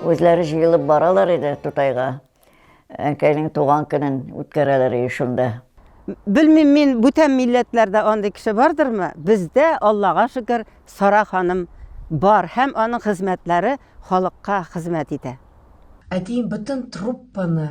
Үзләре җыелып баралар иде Тутайга. Әнкәйнең туган көнен үткәрәләр иде шунда. Белмим мин, бүтән милләтләрдә андый кеше бардырмы? Бездә, Аллага шөкер, Сара ханым бар һәм аның хезмәтләре халыкка хезмәт итә. Әтием бөтен труппаны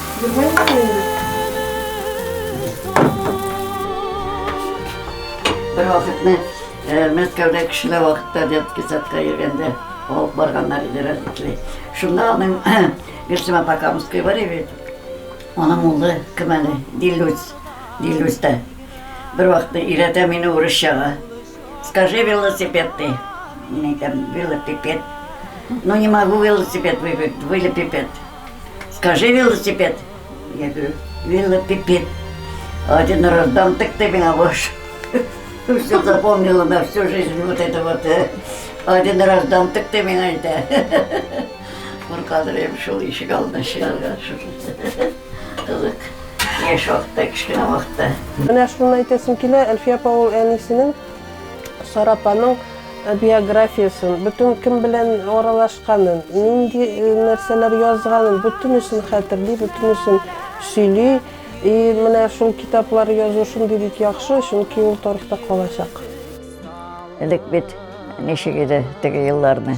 Бер вакытны Мәскәүдә кешеләр вакытта детский садка йөргәндә алып барганнар иде родители. Шунда аның Гөлсем апа Камская бар иде. Аның улы кем әле? Дилүс. Дилүс та. Бер вакытны өйрәтә мине урысчага. Скажи велосипед ты. Мин әйтәм, велосипед. Ну не могу велосипед выиграть, велосипед. Скажи велосипед. Я говорю, велосипед. Один раз дам, так ты меня ваш. Все запомнила на всю жизнь вот это вот. Э. Один раз дам, так ты меня это. Куркадырым шул ишек алдына чыгарга шул. Кызык. Яшь вакытта, кечкенә вакытта. Менә шуны әйтәсем килә, Әлфия апа ул әнисенең Сарапаның Биографиясен, бөтен кем белән аралашканын, нинди нәрсәләр язганын, бөтенесен хәтерли, бөтенесен сөйли. И менә шул китаплар язу шундый бик яхшы, чөнки ул тарихта калачак. Элек бит ничек иде теге елларны.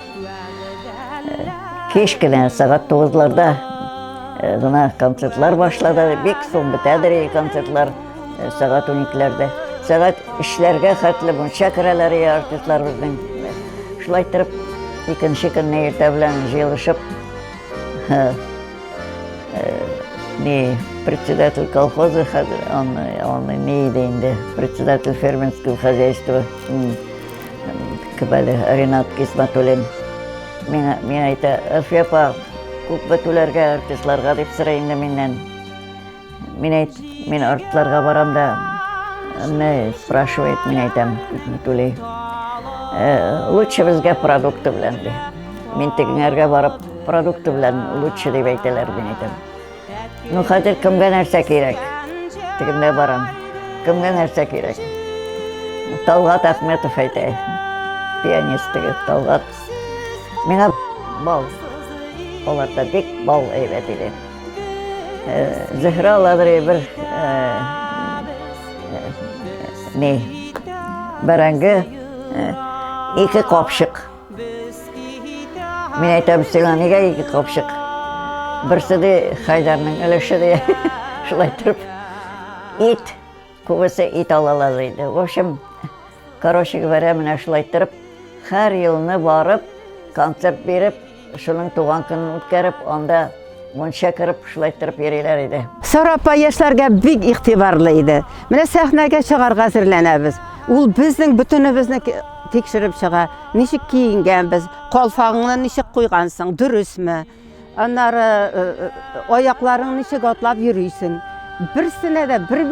Кич кенә сәгать тугызларда э, гына концертлар башлады. Бик соң бетәдер концертлар э, сәгать уникеләрдә. Сәгать эшләргә хәтле мунча керәләр артистлар безнең. Шулай торып, икенче көнне иртә белән җыелышып, э, не председатель колхоза, он, он не иде инде, председатель фермерского хозяйства. Кебәле Ренат Гисмәтуллин миңа, миңа әйтә, Әлфия апа, күп бетүләргә, артистларга дип сорый инде миннән. Мин әйт, мин артларга барам да, не спрашивает, мин әйтәм, түли. Э, лучше безгә продукты белән ди. Мин тегеңәргә барып, продукты белән лучше дип әйтәләр, мин әйтәм. Ну, хәзер кемгә нәрсә кирәк? Тегендә барам. Кемгә нәрсә кирәк? Талгат Әхметов әйтә. Пианист теге Талгат. Миңа бал. Аларда бик бал әйбәт иде. Э, Зөһрә Ладри бер э, э, не бәрәңге ике капшык Мин әйтәм, сиңа нигә ике капчык? Берсе дә Хайдарның өлеше дә шулай торып. Ит, күбесе ит алалар иде. В общем, короче говоря, менә шулай торып, һәр елны барып, концерт биреп, шуның туган көнен үткәреп, анда Монча кереп шулай торып йөриләр иде. Сара апа яшьләргә бик игътибарлы иде. Менә сәхнәгә чыгарга әзерләнәбез. Ул безнең бөтенебезне тикшереп чыга. Ничек киенгәнбез, калфагыңны ничек куйгансың, дөресме? Аннары э, э, аякларың ничек атлап йөрисең? Берсенә дә бер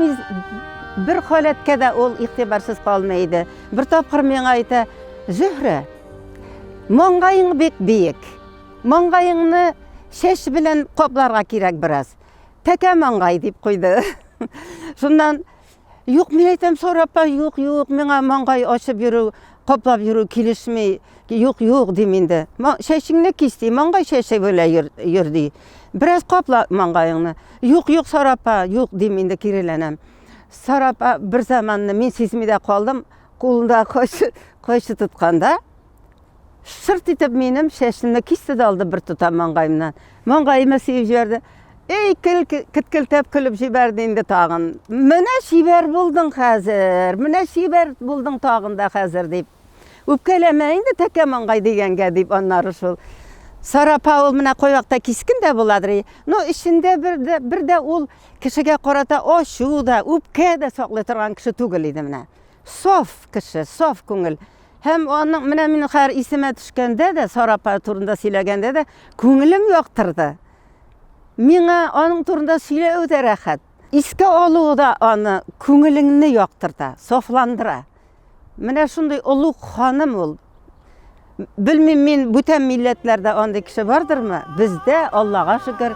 бер халәткә дә ул игътибарсыз калмый иде. Бер тапкыр миңа әйтә, "Зөһрә, маңгаең бик биек. Маңгаеңны чәч белән капларга кирәк бераз. Тәкә маңгай дип куйды. Шуннан юк, мин әйтәм сорапа, юк, юк, миңа маңгай ачып йөрү, каплап йөрү килешми. Юк, юк дим инде. Чәчеңне кис ди, маңгай чәче белән йөр ди. Бераз капла маңгаеңны. Юк, юк, сорапа, юк дим инде киреләнәм. Сорапа бер заманны мин сизми дә калдым, кулында кайчы, кайчы тотканда, Шырт итеп минем чәчемне кисте дә алды бер тотам маңгаемнан. Маңгаемны сыеп җибәрде. Эй, кел, кеткелтәп көлеп җибәрде инде тагын. Менә чибәр булдың хәзер, менә чибәр булдың тагын да хәзер дип. Үпкәләмә инде тәкә маңгай дигәнгә дип аннары шул. Сара Паул менә койракта кискен дә буладыр. Но эчендә бер дә бер дә ул кешегә карата ачу да, үпкә дә саклый торган кеше түгел иде менә. Саф кеше, саф күңел. Һәм аның менә мин хәер исемә төшкәндә дә, Сара апа турында сөйләгәндә дә күңелем яктырды. Миңа аның турында сөйләү дә рәхәт. Искә алу да аны күңелеңне яктырта, сафландыра. Менә шундый олуг ханым ул. Белмим мин бүтән милләтләрдә андый кеше бардырмы? Бездә, Аллага шөкер,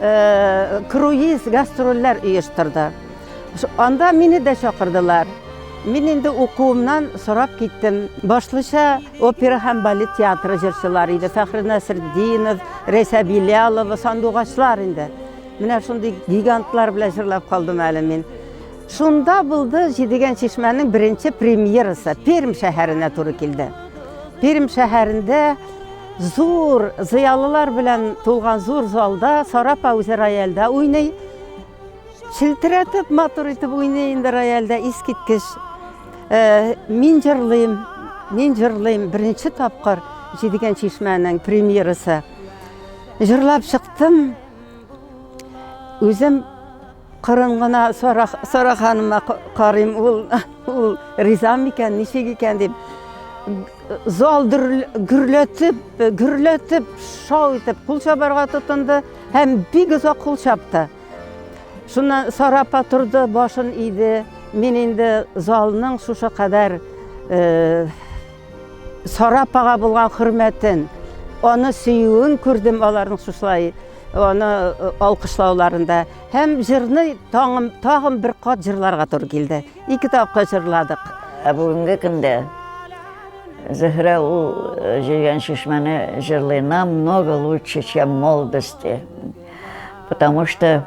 э, круиз гастрольләр оештырды. Анда мине дә чакырдылар. Мин инде укуымнан сорап киттем. Башлыча опера һәм балет театры җырчылары иде. Фәхри Насретдинов, Рәйсә Билялова, сандугачлар инде. Менә шундый гигантлар белән җырлап калдым әле мин. Шунда булды җидегән чишмәнең беренче премьерасы. Пермь шәһәренә туры килде. Пермь шәһәрендә зур зыялылар белән тулган зур залда Сара Пауза рояльдә уйный. Челтерәтеп, матур итеп уйный инде рояльдә, искиткеч. Э, мин җырлыйм, мин җырлыйм. Беренче тапкыр җидегән чишмәнең премьерасы. Җырлап чыктым. Үзем Кырын гына Сара, Сара ханыма карыйм, ул, ул риза микән, ничек икән дип. Зал гөрләтеп, гөрләтеп, шау итеп кул чабарга тотынды һәм бик озак кул чапты. Шуннан Сара апа торды, башын иде. Мин инде залның шушы кадәр э, Сара апага булган хөрмәтен, аны сөюен күрдем аларның шушылай Аны алкышлауларында һәм җырны тагын, тагын бер кат җырларга туры килде. Ике тапкыр җырладык. Ә бүгенге көндә Зөһрә ул җыйган чишмәне җырлый намного лучше, чем молодости. Потому что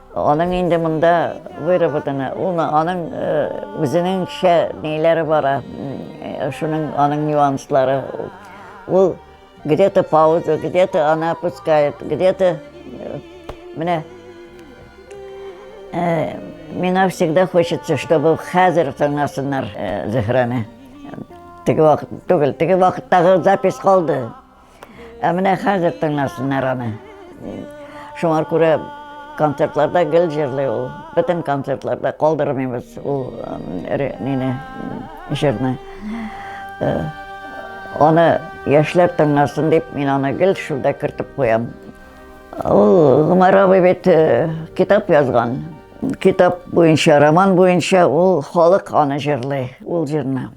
Аның инде монда выработаны, ул аның үзенеңчә ниләре бара, шуның аның нюанслары. Ул где-то пауза, где-то она опускает, где-то менә э, миңа всегда хочется, чтобы хәзер тыңласыннар э, Зөһрәне. Теге вакыт түгел, теге вакыттагы запись калды. Ә менә хәзер тыңласыннар аны. Шуңа күрә концертларда гел җырлый ул. Бөтен концертларда калдырмыйбыз ул нине җырны. Э, аны яшьләр тыңласын дип, мин аны гел шунда кертеп куям. Ул Гомәр абый бит э, китап язган. Китап буенча, роман буенча ул халык аны җырлый, ул җырны.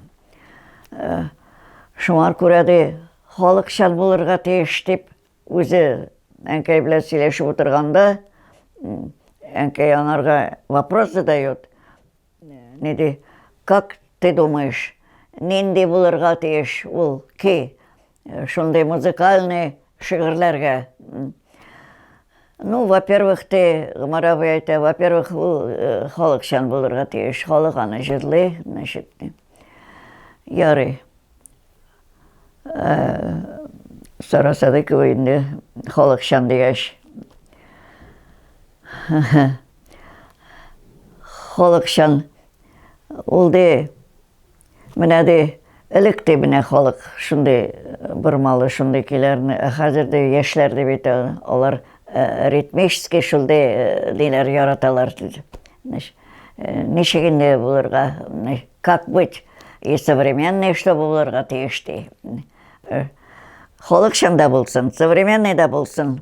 Шуңар күрә де халыкчан булырга тиеш дип үзе әнкәй белән сөйләшеп утырганда әнкәй анарга вопрос задает. Ни ди, как ты думаешь, нинди булырга тиеш ул ки? Шундый музыкальный шигырьләргә. Ну, во-первых, те, Гомар абый әйтә, во-первых, ул э, халыкчан булырга тиеш. Халык аны җырлый, значит. Ярый. Э, Сара Садыкова инде халыкчан дигәч. Халыкчан ул де Менә ди, элек тә менә халык шундый э, бормалы, шундый көйләрне, ә хәзер дә яшьләр дә бит э, алар э, ритмический шундый ниләр яраталар диде. Ничек инде булырга, как быть и современный, что булырга тиеш ди. Халыкчан да булсын, современный да булсын.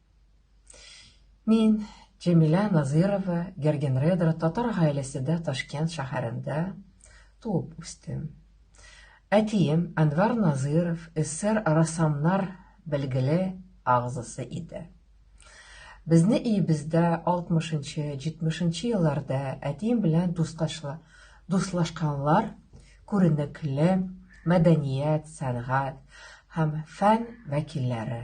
Мин, Җәмилә Назырова, Гергенредра татар гаиләседә Ташкент шәһәрендә туып үстем. Әтием Әнвар Назыров эсер рәссамнар белгеле агзасы иде. Безне өебездә 60-70 елларда әтием белән дусташлы дуслашканлар күренекле мәдәният, сәнгать һәм фән вәкилләре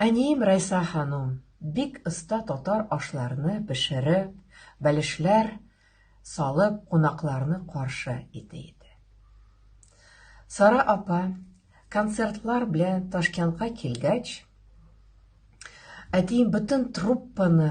Әнием Райса ханум бик оста татар ашларны пешереп, бәлешләр салып кунакларны каршы итә иде. Сара апа концертлар белән Ташкентка килгәч, әтием бөтен труппаны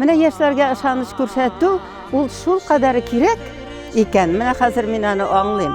Менә яшьләргә ышаныч күрсәтү ул шулкадәр кирәк икән, менә хәзер мин аны аңлыйм.